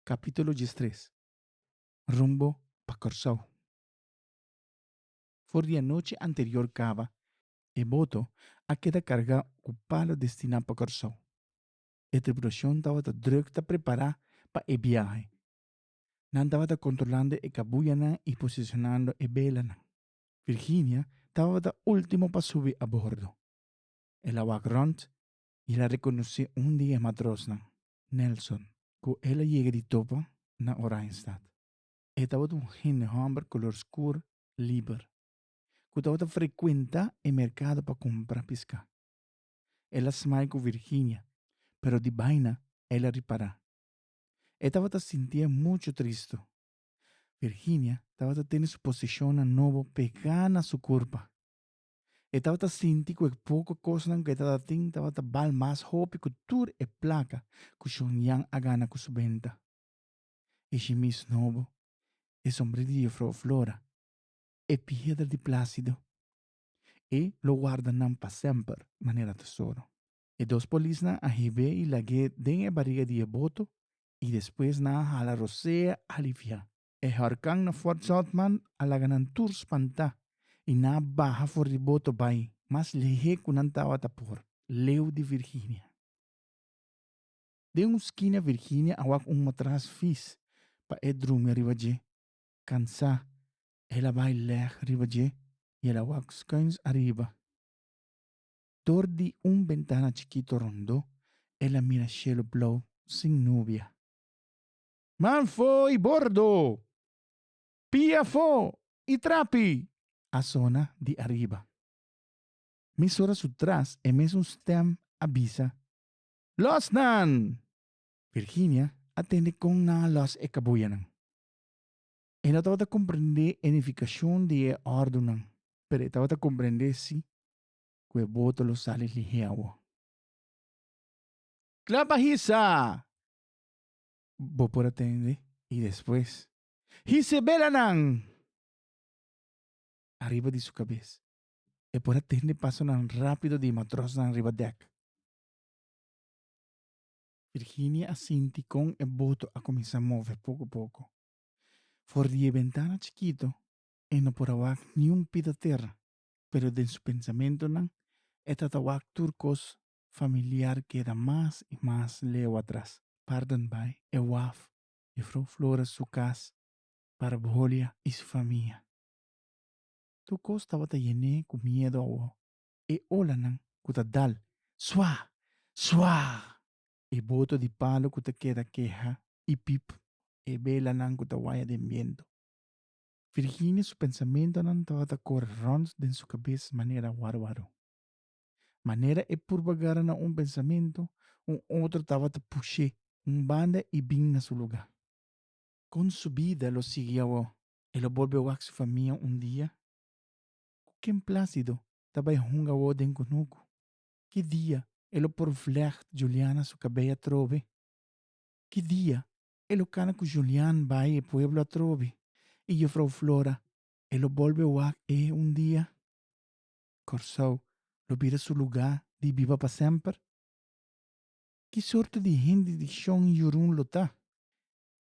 Capítulo diestres Rumbo pa Kòrsou For di anochi anterior kaba, e boto a keda kargá ku palo destiná pa Kòrsou. E tripulashon tabata drùk ta prepará pa e biahe. Nan tabata kontrolando e kabuyanan i posishonando e belanan. Virginia tabata último pa subi abordo. El a wak rònt i el a rekonosé un di e matrosnan. Nelson, ku el a yega di topa na Oranjestad. E tabata un hende hòmber kolor skur, liber, ku tabata frekuentá e merkado pa kumpra piská. El a smai ku Virginia, pero di baina el a ripará. E tabata sintié muchu tristu. Virginia tabata tene su posishonnan nobo pegá na su kurpa. E tabata sinti ku e poko kosnan ku e tata tin tabata bal mas hopi ku tur e plaka ku Shonyan a gana ku su benta. E shimis nobo, e sombri di Jufrou Flora, e piedra di Plásido, e lo warda nan pa semper manera tesoro. E dos polisnan a hib'é i lag'é den e bariga di e boto i despues nan a hala Rosea aliviá. E hurkan na Fort Southman a laga nan tur spantá i nan a baha for di boto bai mas lehé ku nan tabata por, leu di Virginia. Den un skina Virginia a wak un matras fis pa e drumi ariba dje. Kansá, el a bai lèg riba dje i el a wak skuins ariba. Dor di un bentana chikito rondó el a mira shelu blou sin nubia. Man fo'i bordo! Pia fo i trapi! A sona di ariba. Mes ora su tras e mesun stèm a bisa, Lòs nan! Virginia a tende kon nan a lòs e kabuyanan. E no tabata komprendé e nifikashon di e òrdunan, pero e tabata komprendé sí ku e boto lo sali lihé awor. Klap a hisa! bo por a tende i despues. Hizebel a nan ariba di su kabes. E por a tende pasonan rápido di matrosnan riba dèk. Virginia a sinti kon e boto a kuminsá move poko poko. For di e bentana chikito e no por a wak niun pida tera, pero den su pensamentunan e ta ta wak tur kos familiar keda mas i mas leu atras. Pardan bai e waf di Frou Flores su kas pa Rabholia i su famia. Tur kos tabata yen'é ku miedu awo. E olanan ku ta dal swa! swa! e boto di palu ku ta keda keha i pip e belanan ku ta waya den bientu. Virginia su pensamentonan tabata kore rònt den su kabes manera waru-waru. Manera e purba gara na un pensamentu, un otro tabata push'é un banda i bin na su lugá. Kon su bida lo sigui awor? E lo bolbe wak su famia un dia? Ku ken Plácido ta bai hunga awor den kunuku? Ki dia e lo por vlègt Juliana su kabei atrobe? Ki dia e lo kana ku Julian bai e pueblo atrobe i Jufrou Flora e lo bolbe wak e un dia? Kòrsou lo bira su lugá di biba pa semper? Ki sorto di hende di Shon i Yurun lo ta?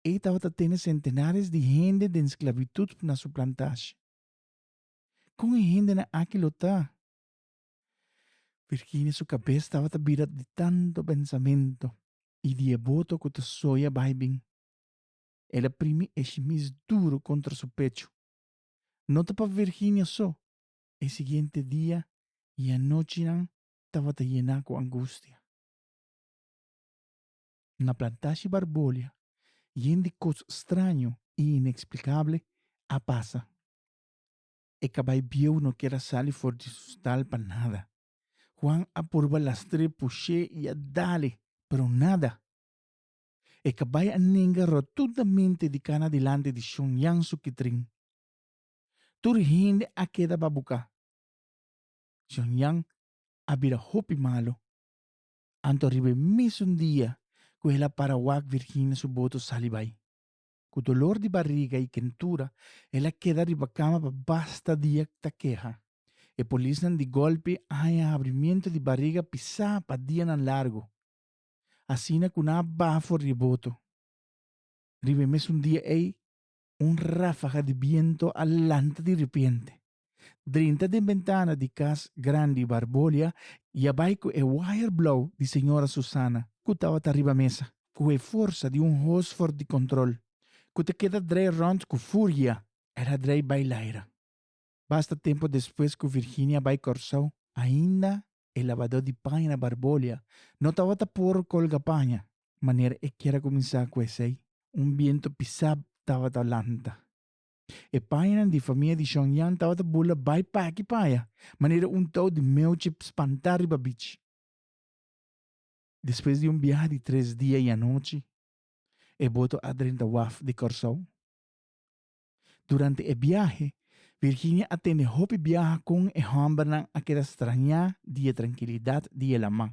E tabata tene sentenares di hende den sklabitut na su plantashi. Kon e hendenan akí lo ta? Virginia su kabes tabata bira di tantu pensamentu i di e boto ku ta soya bai bin. El a primi e shimis duru kontra su pechu. No ta pa Virginia so, E siguiente dia i anochinan tabata yená ku angustia. Na plantashi Barbolia yen di kos straño i ineksplikable a pasa. E kabai bieu no kier a sali for di su stal pa nada. Juan a purba lastr'é, push'é i a dal'é, pero nada. E kabai a nenga rotundamente di kana dilanti di Shon Yansu Kitrin. Tur hende a keda babuká. Señor Jan a bira hopi malu. Anto riba e mesun dia ku el a para wak Virginia su boto sali bai. Ku dolor di bariga i kentura el a keda riba kama pa basta dia ta keha. E polisnan di golpe a haña habrimiento di bariga pisá pa dianan largu. Asina ku nan a bafo ri e boto. Riba e mesun dia ei un ráfaga di biento a lanta di ripiente, drinta den bentana di kas grandi Barbolia i a bai ku e wire blou di señora Susana ku tabata riba mesa, ku e forsa di un hos for di kòntròl, ku ta keda drei rònt ku furia. El a drei bai laira. Basta tempu despues ku Virginia bai Kòrsou, ainda e labadó di paña na Barbolia no tabata por kolga paña manera e kier a kuminsá ku esei. Un bientu pisá tabata lanta. E pañanan di famia di Shon Yan tabata bula bai paki paña manera un tou di meuchi spantá riba bich. Despues di un biaha di tres dia i anochi, e boto a drenta waf di Kòrsou. Durante e biahe, Virginia a tende hopi biaha con e hombernan a keda strañá di e trankilidad di e lamá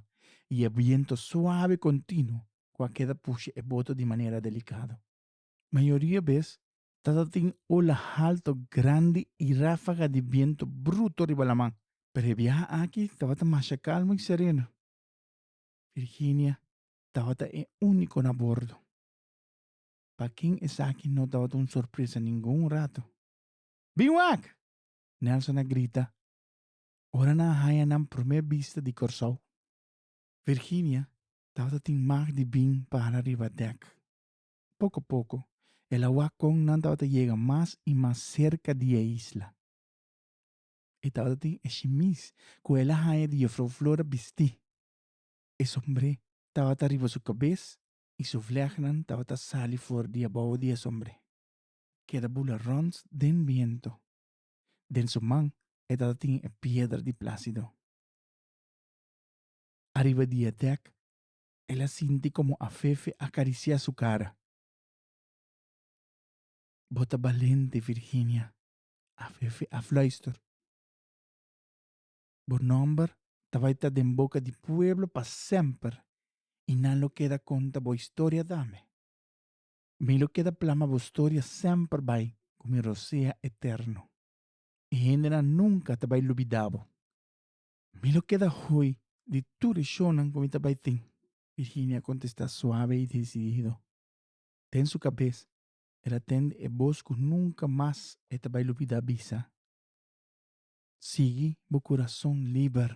y e biento suave continuo cu a keda pushe e boto di manera delicado. Mayoria bes tabatin ola halto grandi y ráfaga di biento bruto riba lamá, pero e biaha aki tabata masha calmo y sereno. Virginia tabata e único na bordo. Pa ken esaki no tabata un sorpresa ningun rato. Bin wak! Nelson a grita ora nan a haña nan promé bista di Kòrsou. Virginia tabata tin mag di bin para riba dèk. Poko poko el a wak kon nan tabata yega mas i mas serka di e isla. E tabata tin e shimis ku el a haña di Jefrouw Flora bistí. E sombré tabata riba su kabes i su vlègnan tabata sali for di abou di e sombre, keda bula rònt den biento. Den su man e tabata tin e piedra di Plásido. Ariba di e dèk el a sinti komo Afefe a karisiá su kara. Bo ta balente, Virginia, Afefe a fluister. Bo nòmber ta bai ta den boka di pueblo pa semper, i nan lo keda konta bo historia tambe. Mi lo keda plama bo storia semper bai ku mi rosea eterno, i hendenan nunka ta bai lubidá bo. Mi lo keda hui di tur e shownan ku mi ta bai tin. Virginia kontestá suave i desidido. Den su kabes el a tende e bos ku nunka mas e ta bai lubidá bisa. sigui bo kurason liber.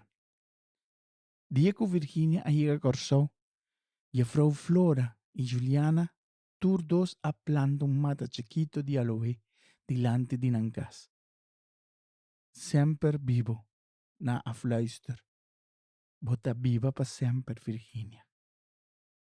Dia ku Virginia a yega Kòrsou, Jefrou Flora i Juliana tur dos a planta un mata chikito di aloe dilanti di nan kas. Semper bibo, nan a fluister. Bo ta biba pa semper, Virginia.